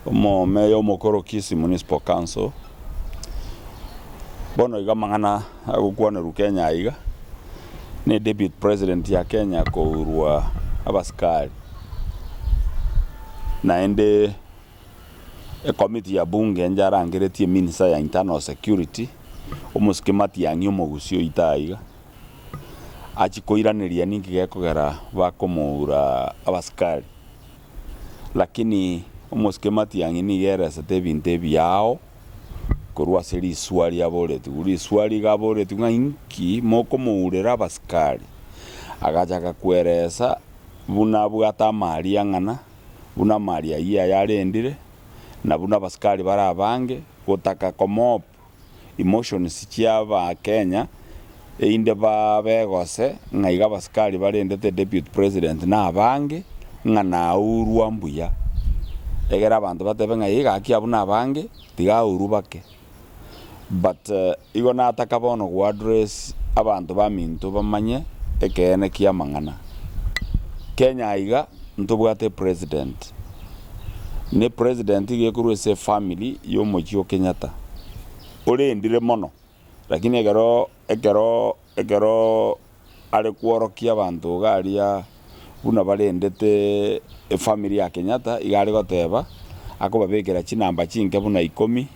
Omomeya omokoro Kisii Municipal Council, bono iga amang'ana agokwanerwa Kenya aiga, ne Deputy President ya Kenya kourwa abasikari, naende ecommittee ya bunge enche arangeretie eminisa ya internal security, omosike Matiang'i omogusii oito aiga, achikoiraneria ninki gekogera bakomoura abasikari. Lakini omosike Matiang'i nigo eresete ebinto ebiya ao korwa ase risuwa riaboretigwe. Risuwa rigaboretigwe ng'a inki mokomourera abasikari, agachaka kweresa buna abwate amaaria ang'ana, buna amaaria ayio yayarendire, na buna abasikari bare abange gotaka komoba. emotions chi'Abakenya einde babe gose ng'a iga abasikari barendete Deputy President na abange ng'a naurwa mbuya. Egere abanto batebe ng'a ee gaki abwo nabange tiga aurwe bake. But igo nataka bono goaddress abanto baminto bamanye ekeene ki'amang'ana. Kenya aiga ntobwate President. ne president gekorwa ase efamily yomochie o Kenyatta, orendire mono, lakini ekero ekero ekero are kworokia abanto iga aria buna barendete efamily ya Kenyatta, iga aregoteba akobabekera chinamba chinke buna ikomi,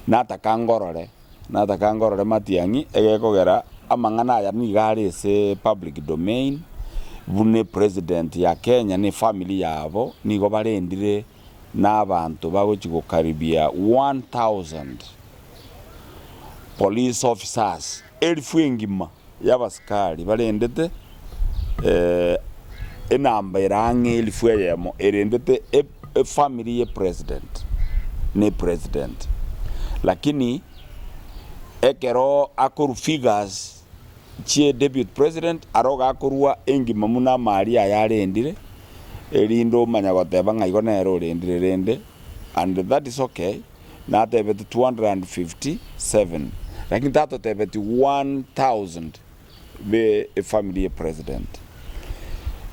nataka ngorore Natakange orore matiang'i egekogera amang'ana aya nigo are ase public domain buna president ya Kenya ne family yabo nigo barendire na abanto bagochi gokaribia 1000 police officers, elfu engima. y'abasikari barendete enamba ere ang'e elifu eyemo erendete efamiri ye president na epresident. Lakini ekero akorwa figures chie deputy president aro gakorwa engima buna amaaria aya arendire erinde omanye goteba ng'a igo nere orendire rende and that is okay. natebeti 257 lakini tatotebeti 1000 be efamily ye president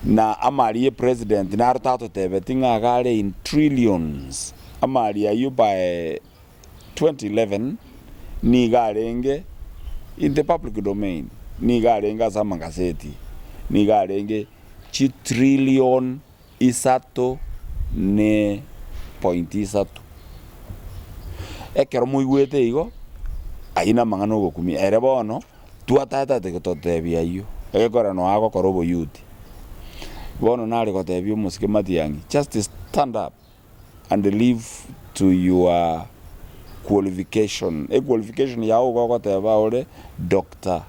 na amari ye president naro tatotebeti ng'a iga are in trillions amari ayio by 2011 nigo arenge in the public domain nigo arenge ase amagazeti nigo arenge chitrillion Isato ne pointi isato. Ekero moigwete igo, ayio namang'ana ogokumia. Ere bono twataetate gototebia ayio, egekogera noa agokora oboyuti. Bono nare gotebia omosike matiang'i, just stand up. and live to your qualification e qualification yao igo ogoteba ore Doctor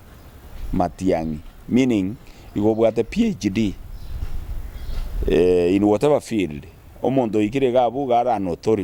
Matiang'i meaning igo obwate PHD in whatever field omonto oikire iga abwo iga are an authority.